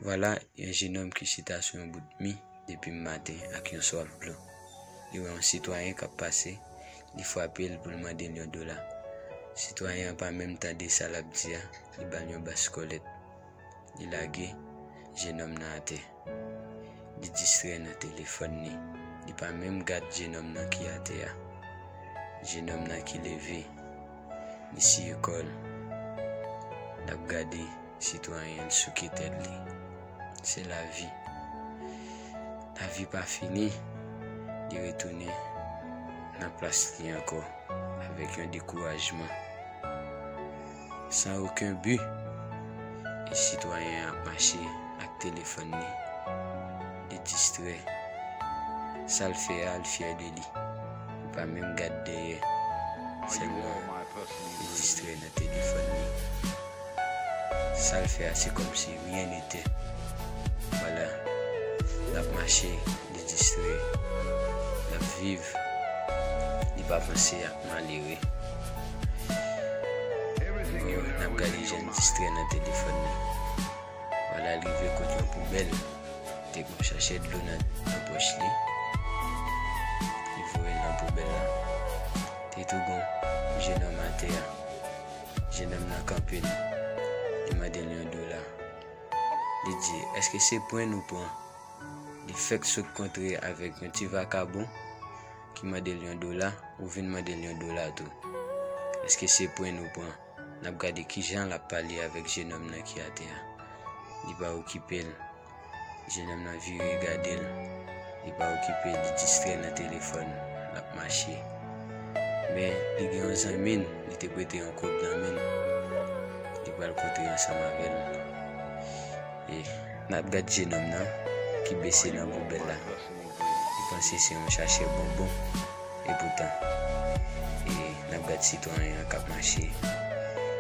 Vwala yon jenòm ki chita sou yon bout mi depi m maten ak yon swaf dlo. Li wè yon sitwayen k ap pase, li frape l pou l mande l yon dola. Sitwayen an pa menm tande sa l ap di a, li ba l yon baskòlèt. Li lage jenòm nan atè. Li distrè nan telefòn li. Li pa menm gad jenòm nan ki atè a. Jenòm nan ki leve. Li siye kò l. L ap gade sitwayen l souke tèt li. Se lavi. Lavi pa fini. Li retounen nan plas li ankò avèk yon dekourajman. San oken bi, sitwayen an ap mache ak telefòn li, li distrè. Sa l fè a, l fyè de li. Li pa menm gad dèyè, sèlman li distrè nan telefòn li. Sa l fè a se kòmsi ryen netè. Vwala, l ap mache, li distrè, l ap viv, li pa panse a. Malere. Yo n ap gade jan l distrè nan telefòn li. Wala l rive kot yon poubèl. Te gen yon chachè dlo nan pòch li. Li voye l nan poubèl la. Te tou gen yon jenòm atè a. Jenòm nan kanpe l. Li mande l yon dola. Li di, Èske se pwen nou pran? Li fèk sot kontre avèk yon ti vakabon. ki mande l yon dola, ou vin mande l yon dola tou. Eske se pwen nou pran? N ap gade ki jan l ap pale avèk jenòm nan ki atè a. Li pa okipe l. Jenòm nan vire gade l. Li pa okipe l, li distrè nan telefòn. L ap mache. Men, li gen yon zanmi l, li te prete yon kòb nan men l. Li pral kontre ansanm avè l. E, n ap gade jenòm nan ki bese nan poubèl la. Bon vre li panse se yon chachè bonbon epoutan e nap gad sitwayen an kap mache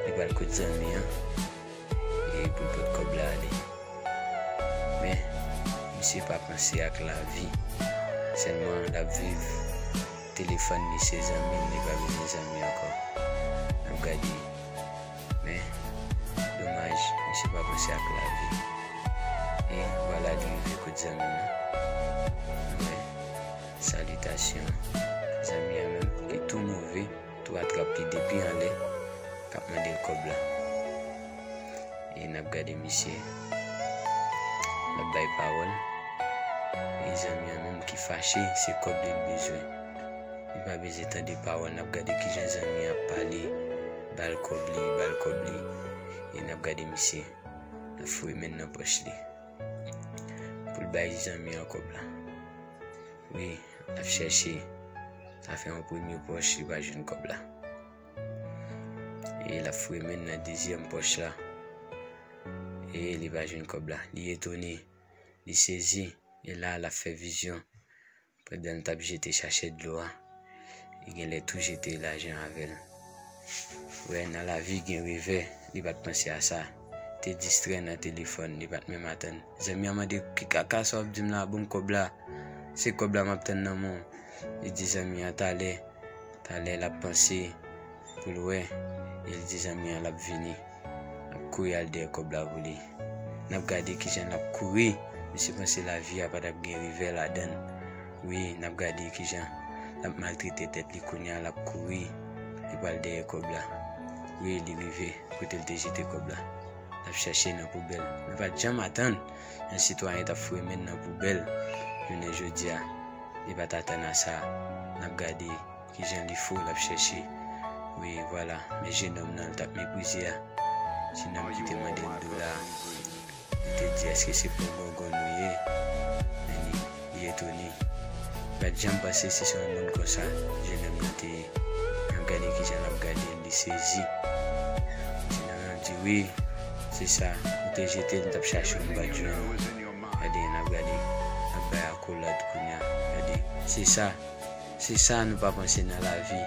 li pral kot zanmi an e poul pot kòb la ale men misye pa panse ak lavi sèlman lap viv telefòn li se zanmil li pa bezwen zanmi ankò nap gade. Men, domaj, misye pa panse ak lavi. E, vwala li rive kot zanmi an. Nou wè, salitasyon, zanmi an menm, li tou move, tou atrap li depi anlè, k ap mande l kòb la. E, n ap gade misye, l ap bay pawòl, e zanmi an menm ki fache, se kòb li l bezwen. Li pa bezwen tande pawòl, n ap gade kijan zanmi an ap pale. Bal kob li bal kob li e nap gade misye nan foure men nan poch li poul bay zanmi an kob la wi ap chèche ta fè yon premye poch li pa jwenn kob la e lap foure men nan dezyèm poch la e li pa jwenn kob la li etone li sezi e la lap fè vizyon Pandan l t ap jete chachèt dlo a, li gen lè tou jete lajan avè l. Wè, nan lavi gen revè, li pa t panse a sa. Te distrè nan telefòn, li pa t menm atann. Zanmi an mande, Ki kaka sa w ap di m la a? Ban m kòb la! Se kòb la m ap tann nan men w. Li di zanmi an talè. Talè l ap panse. Pou l wè e li di zanmi an l ap vini. L ap kouri al dèyè kòb la pou li. N ap gade ki jan l ap kouri. Misye panse lavi a pa t ap gen revè ladan l. Wi, n ap gade ki jan l ap maltrete tèt li kounye a. L ap kouri, li pral dèyè kòb la. Wi, li rive kote l te jete kòb la. L ap chèche nan poubèl. Li pa t janm atann yon sitwayen t ap fouye men l nan poubèl jounen jodi a. Li pa t atann a sa. N ap gade. Kijan li fou lap chèche wi vwala men jenom nan li tap meprize a ti nonm ki te mandel dola a li te di eske se pou gongonn ou ye Annie li etone li pat janm panse se yon moun konsa jenom nan te ye an gade kijan lap gadel li sezi ti nonm nan di wi se sa ou te jetel m tap chachew m pat jwenn ou gade lap gade lap bay akolad kounya gade se sa. Se sa nou pa panse nan lavi.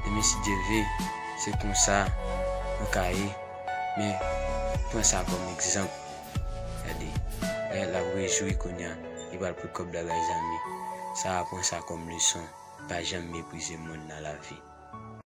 Demen si Dye vle, se konsa nou ka ye. Men, pran sa kòm egzanp. Gade, Rayèt la ap rejwi kounye a. Li pral pran kòb Dagaj Zanmi. Sara pran sa kòm leson. Pa janm meprize moun nan lavi.